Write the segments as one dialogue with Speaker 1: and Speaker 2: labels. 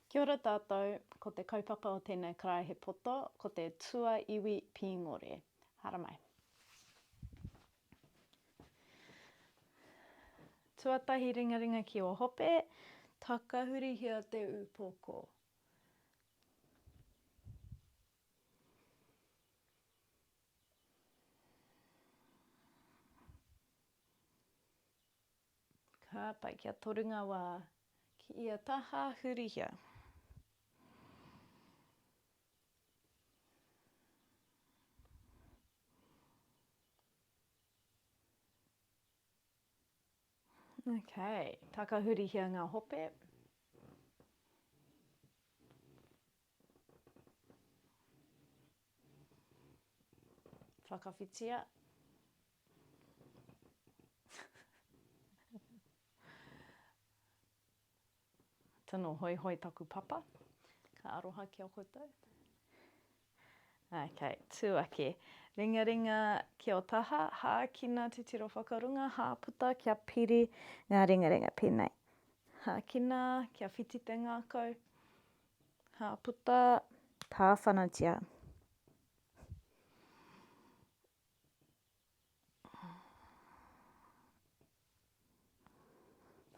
Speaker 1: Kia ora tātou, ko te kaupapa o tēnei karaehe poto ko te Tua Iwi Pīngore. Haramai. Tuatahi ringaringa ki o hope, takahurihia te upoko. Ka tae ki a Torunga wā, ki ia taha hurihia. Ok, takahurihia ngā hope. Whakawhitia Tino hoihoi taku papa. Ka aroha ki a koutou. Ok, tū ake. Ringaringa ki o taha, hākina titiro whakarunga, hāputa kia piri ngā ringaringa pēnei. Hākina kia whiti te ngākau. Ka puta tāwhanatia.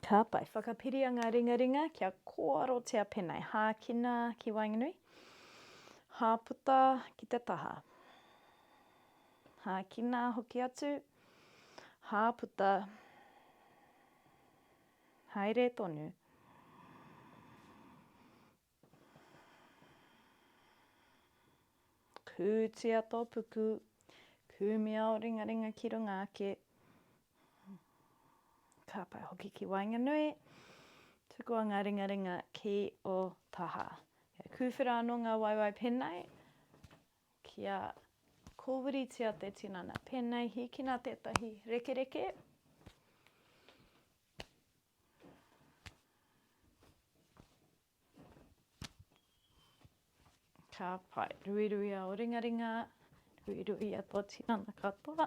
Speaker 1: Ka pai. Whakapiria ngā ringaringa kia kōarotia pēnei. Hākina ki waenganui. Hāputa ki te taha. Hākina hoki atu. Hāputa. Hāputa. Haere tonu. Kūtia tō puku. Kūmia ō ringaringa ki runga ake. Ka pai hoki ki waenganui. Tukua ngā ringaringa ki ō taha. Kūwhera anō ngā waewae pēnei. Kia kōwiritia te tinana. Pēnei, hīkina tētahi rekereke. Ka pai. Ruiruia o ringaringa. Ruiruia tō tinana katoa.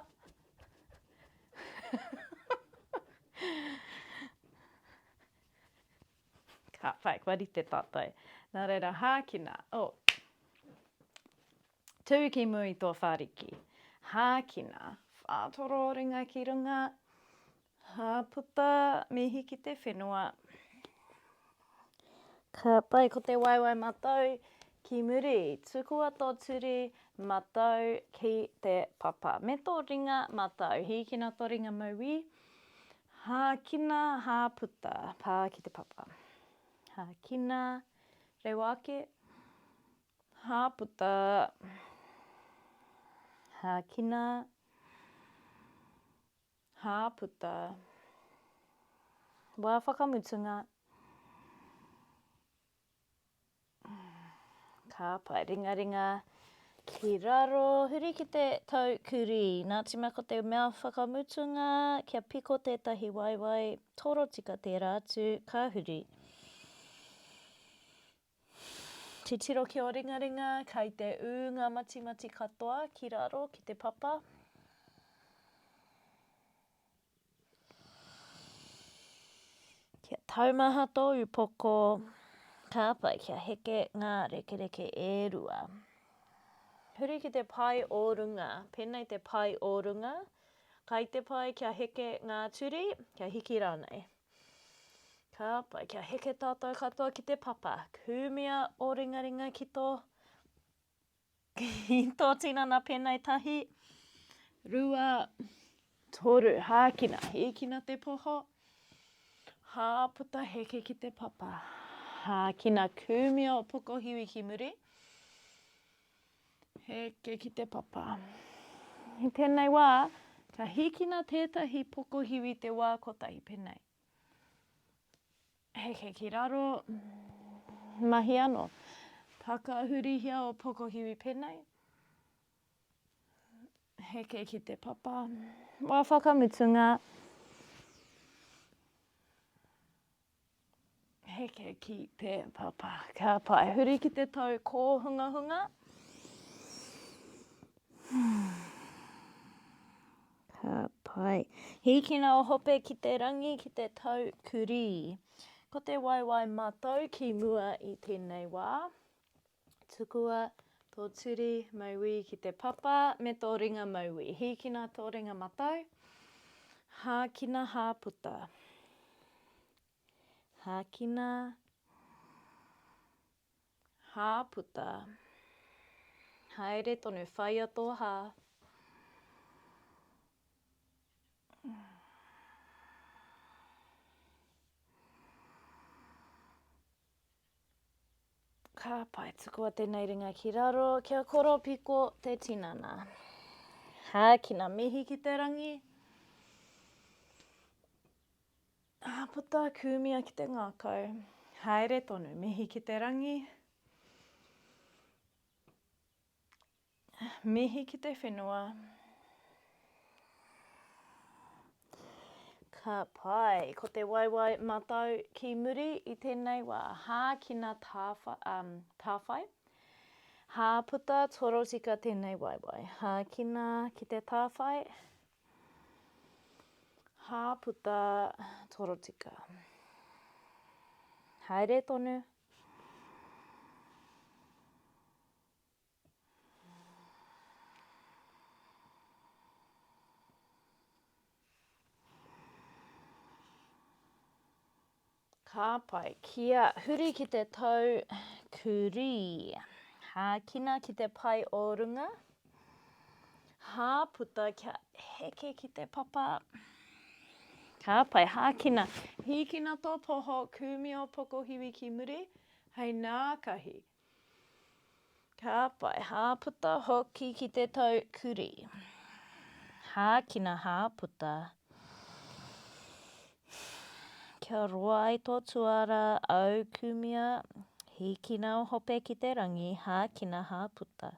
Speaker 1: Ka whai, kua rite tātou. Nā reira, hākina, oh. Tū ki mū i tō whāriki. Hākina, whātoro ringa ki runga. Hāputa, mihi ki te whenua. Ka pai ko te waewae matau ki muri. Tukua tō turi matau ki te papa. Me tō ringa matau. Hīkina tō ringa mauī. Hākina, hāputa, pā ki te papa. Hākina, rewa ake, hāputa, hākina, hāputa, wā whakamutunga, Ka pae ringaringa ki raro. Huri ki te tau kurī. Nā Tima ko te mea whakamutunga kia piko tētahi waewae, torotika tērā atu, ka huri. Titiro ki ō ringaringa kei te ū ngā matimati katoa ki raro ki te papa. Kia taumaha tō upoko, ka pai kia heke ngā rekereke e rua. Huri ki te pae o runga, pēnei te pae o runga, kai te pae kia heke ngā turi, kia hiki rānei. Ka pai kia heke tātou katoa ki te papa, kūmia ō ringaringa ki tō Ki tō tinana pēnei tahi, rua, toru, hākina, hīkina te poho, hā puta heke ki te papa, hākina kūmia o pokohiwi ki muri, heke ki te papa. I tēnei wā, ka hīkina tētahi pokohiwi te wā kotahi pēnei. Heke ki raro, mahi ano. Whakahurihia o Pokohiwi penei. Heke ki te papa. Wa whakamutunga. Heke ki te papa. Ka tae. Huri ki te tau kōhungahunga. Ka tae. Hīkina o hope ki te rangi ki te tau kurī. Ko te waewae matau ki mua i tēnei wā. Tukua tō turi mauī ki te papa me tō ringa mauī. Hīkina tō ringa matau. Hākina hāputa. Hākina, hāputa, haere tonu, whaia tō hā. Ka pai, tukua tēnei ringa ki raro, kia koropiko te tinana. Hākina, mihi ki te rangi. Āpata, kūmia ki te ngākau. Haere tonu, mihi ki te rangi. Mihi ki te whenua. Ka pai, ko te waewae matau ki muri i tēnei wā. Hākina tāwhai. Hāputa, torotika tēnei waewae. Hākina ki te tāwhai. Hāputa torotika. Haere tonu. Ka pai. Kia huri ki te tau kurī. Hākina ki te pae o runga. Hāputa kia heke ki te papa. Ka pai. Hākina. Hīkina tō poho, kūmio pokohiwi ki muri, hei nākahi, Ka whai hāputa hoki ki te tau kurī. Hākina hāputa. Kia roa ai tō tuara aukumia, hīkina o hope ki te rangi, hākina hāputa.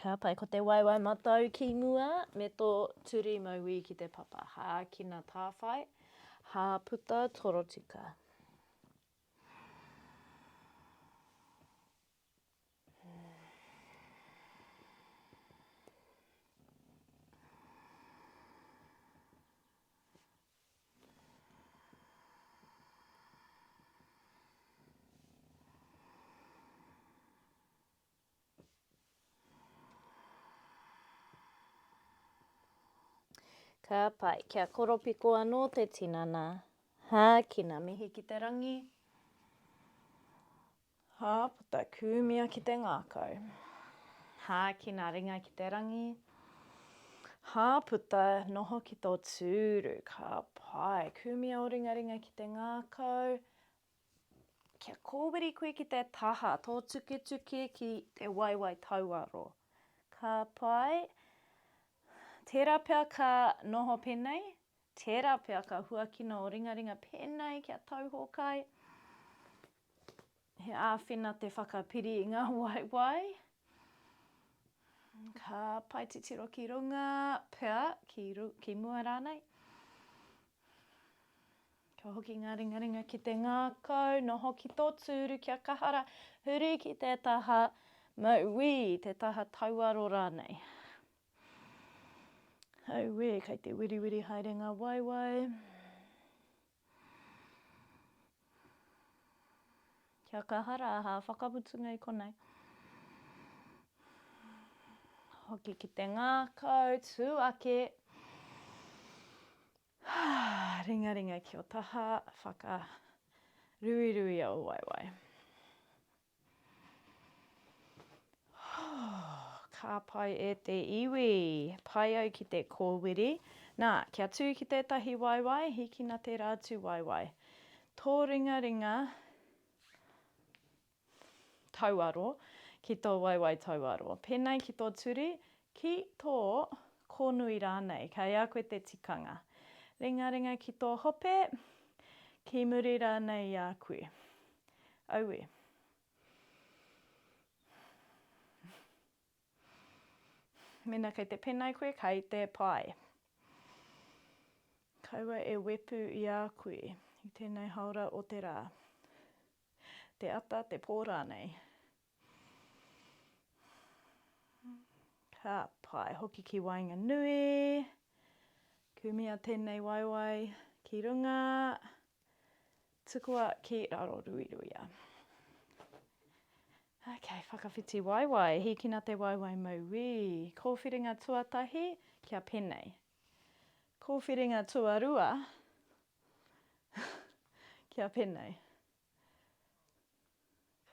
Speaker 1: Ka pai ko te waewae matau ki mua me tō turi mauī ki te papa. Hākina tāwhai, hāputa torotika. Ka pai, kia koropiko anō te tinana. Hākina, mihi ki te rangi. Hā puta kūmia ki te ngākau. Hā kina ringa ki te rangi. Hā puta noho ki tō tūru. Ka pai kūmia ō ringaringa ki te ngākau. Kia kōwiri koe ki te taha, tō tuketuke ki te waewae tauaro. Ka pai. Tērā pea ka noho pēnei, Tērā pea ka huakina ō ringaringa pēnei ki a Tauhōkai. He āwhina te whakapiri i ngā waewae. Ka pae titiro ki runga pea, ki, ki mua rānei. Ka hoki ngā ringaringa ki te ngākau, noho ki tō tūru kia kahara, huri ki te taha mauī, te taha tauaro rānei. Auē, kei te wiriwiri haere ngā waewae. Kia kaha rā, hā, whakamutunga i konei. Hoki ki te ngākau, tū ake. Ringaringa ki o taha, whakaruirui au waewae. Ka pai e te iwi. Pai au ki te kōwiri. Nā, kia tū ki tētahi waewae, hikina tērā atu waewae. Tō ringaringa tauaro ki tō waewae tauaro. Pēnei ki tō turi, Ki tō kōnui rānei, kei a koe te tikanga. Ringaringa ki tō hope, ki muri rānei i a koe. Aue. Mēnā kei te penei koe, kei te pae. Kaua e wepu i a koe i tēnei haora o te rā. Te ata, te pō rānei. Ka pae hoki ki waenganui. Kumia tēnei waewae ki runga. Tukua ki raroruiruia. Ok, whakawhiti waewae. Hīkina te waewae mauī. Kōwhiringa tuatahi kia penei. Kōwhiringa tuarua kia penei.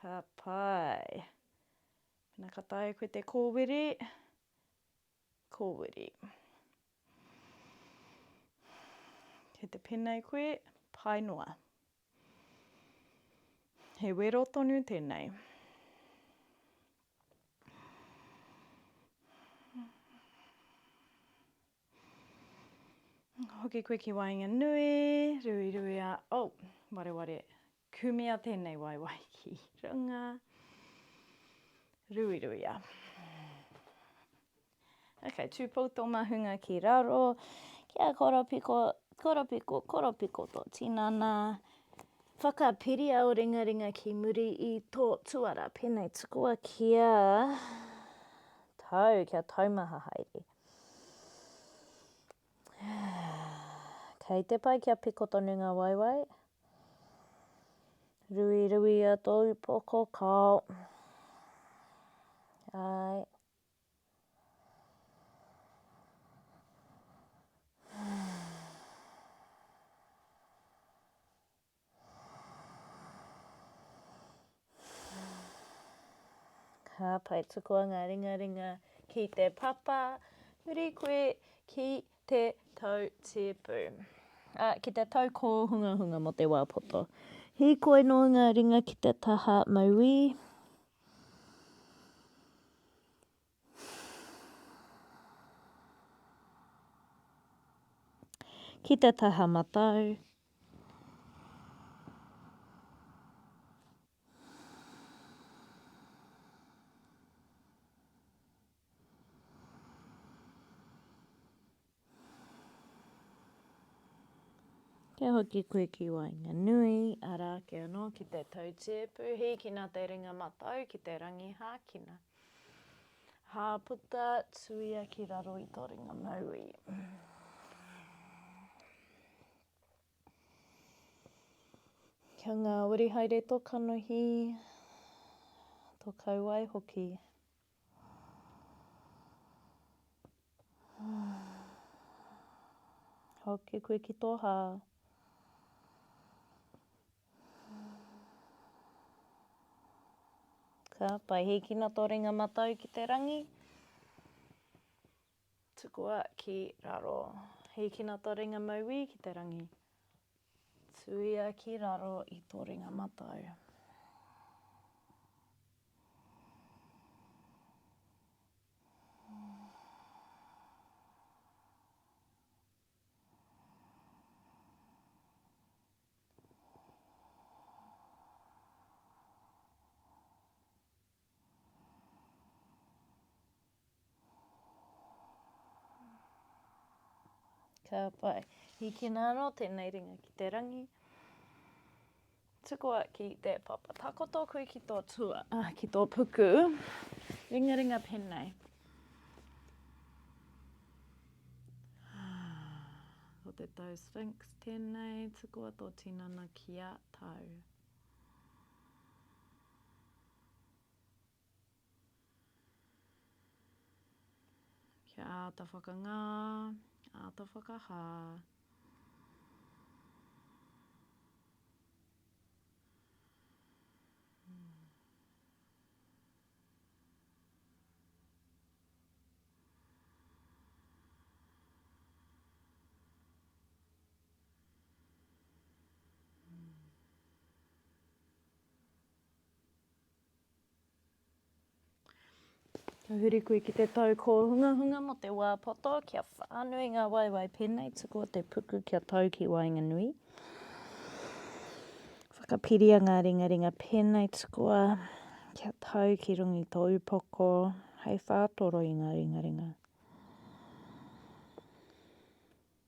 Speaker 1: Ka pai. Pena ka taea koe te kōwiri, kōwiri. Kei te penei koe, pai noa. He wero tonu tēnei. Hoki koe ki waenganui, ruiruia, oh, wareware, kumea tēnei waewae ki runga, ruiruia. Ok, tūpou tō mahunga ki raro, kia koropiko, koropiko, koropiko tō tinana, whakapiria o ringaringa ki muri i tō tuara, pēnei tukua kia tau, kia taumaha haere. Kei te pai kia piko tonu ngā waewae. Rui rui a tō upoko kao. Ai. Ka pai tukua ngā ringaringa ki te papa, huri koe ki te tau tipu. A, ki te tau kōhungahunga mō te wā poto. Hīkoi noa ngā ringa ki te taha mauī. Ki te taha matau. Kia hoki koe ki waenganui, arā ake anō ki te tautie pūhīkina te ringa matau ki te rangi hākina. Hāputa, tuia ki raro i tō ringa mauī. Kia ngāwari haere tō kanohi, tō kauae hoki. Hoki koe ki tō hā. Ka pai, hīkina tō ringa matau ki te rangi. Tukua ki raro. Hīkina tō ringa mauī ki te rangi. Tuia ki raro i tō ringa matau. Ka pai. Hikina anō tēnei ringa ki te rangi. Tukua ki te papa. Takoto koe ki tō tua, ah, ki tō puku. Ringa ringa pēnei. Ko te tau Sphinx tēnei, tukua tō tinana ki a tau. Kia āta whakangā, āta whakahā. Ka huri koe ki te tau kōhungahunga mō te wā poto, kia whānui ngā waewae pēnei, tukua te puku kia tau ki waenganui. Whakapiria ngā ringaringa pēnei, tukua kia tau ki rungi tō upoko, hei whātoro i ngā ringaringa.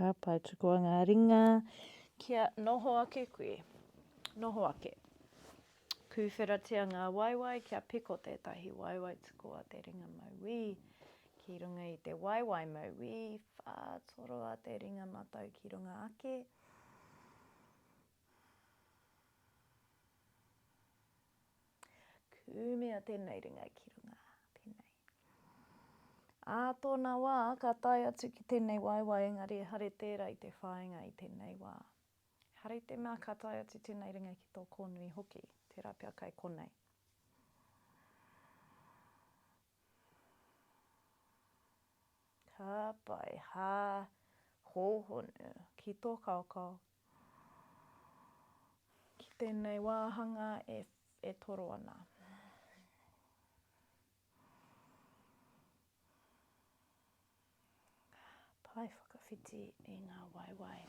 Speaker 1: Ka pai tukua ngā ringa kia noho ake koe. Noho ake. Pūwheratia ngā waewae kia piko tētahi waewae tukua te ringa mauī. Ki runga i te waewae mauī, whātoroa te ringa matau ki runga ake. Kumea tēnei ringa ki runga. Tēnei. Ā tōna wā, ka tae atu ki tēnei waewae, engari e hare tērā i te whāinga i tēnei wā. He hare i te mea ka tae atu tēnei ringa ki tō kōnui hoki, tērā pea kai konei. Ka pai, hā, hōhonu, ki tō kaokao, Ki tēnei wāhanga e, e toro ana. Pae whakawhiti i ngā waewae.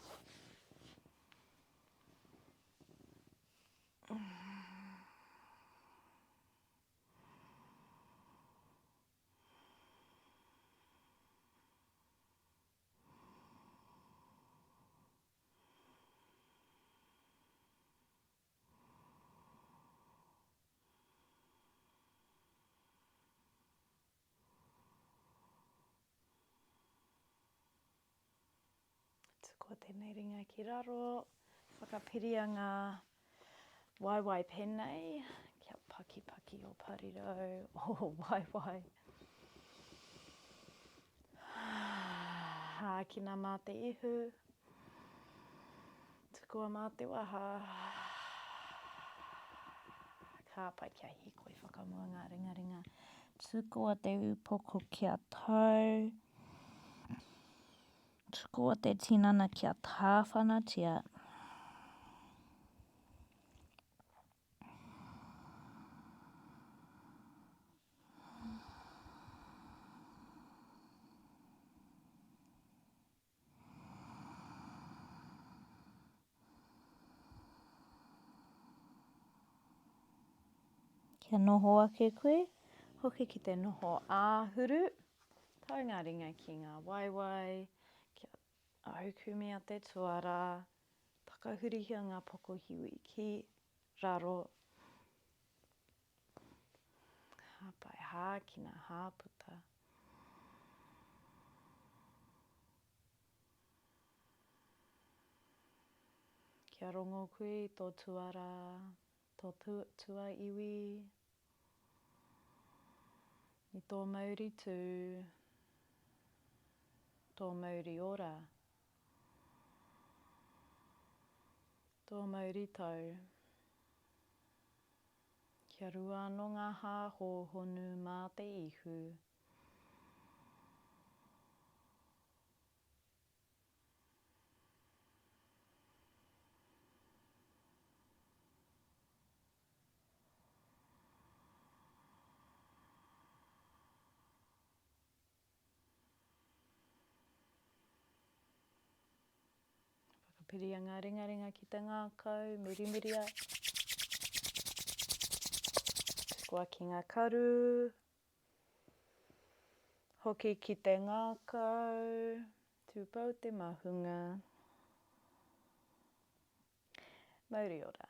Speaker 1: Tuku tēnei ringa ki raro, whakapiria ngā Waewae penei, kia pakipaki o parirau, o waewae. Hākina mā te ihu, tukua mā te waha. Kāpai kia hikoi whakamua ngā ringaringa. Tukua te upoko kia tau. Tukua te upoko kia tau. Tukua te tinana kia tāwhanatia. Kia noho ake koe, hoki ki te noho āhuru, tau ngā ringa ki ngā waewae, kia aukumia te tuara, takahurihia ngā pokohiwi ki raro, hāpai hākina, hāputa. Kia rongo koe i tō tuarā, tō tuaiwi, i tō mauri tū, tō mauri ora, tō mauri tau. Kia rua anō ngā hā hōhonu mā te ihu. Whakapiria ngā ringaringa ki te ngākau, murimiria. Tukua ki ngā karu, Hoki ki te ngākau, tūpou te mahunga. Mauri ora.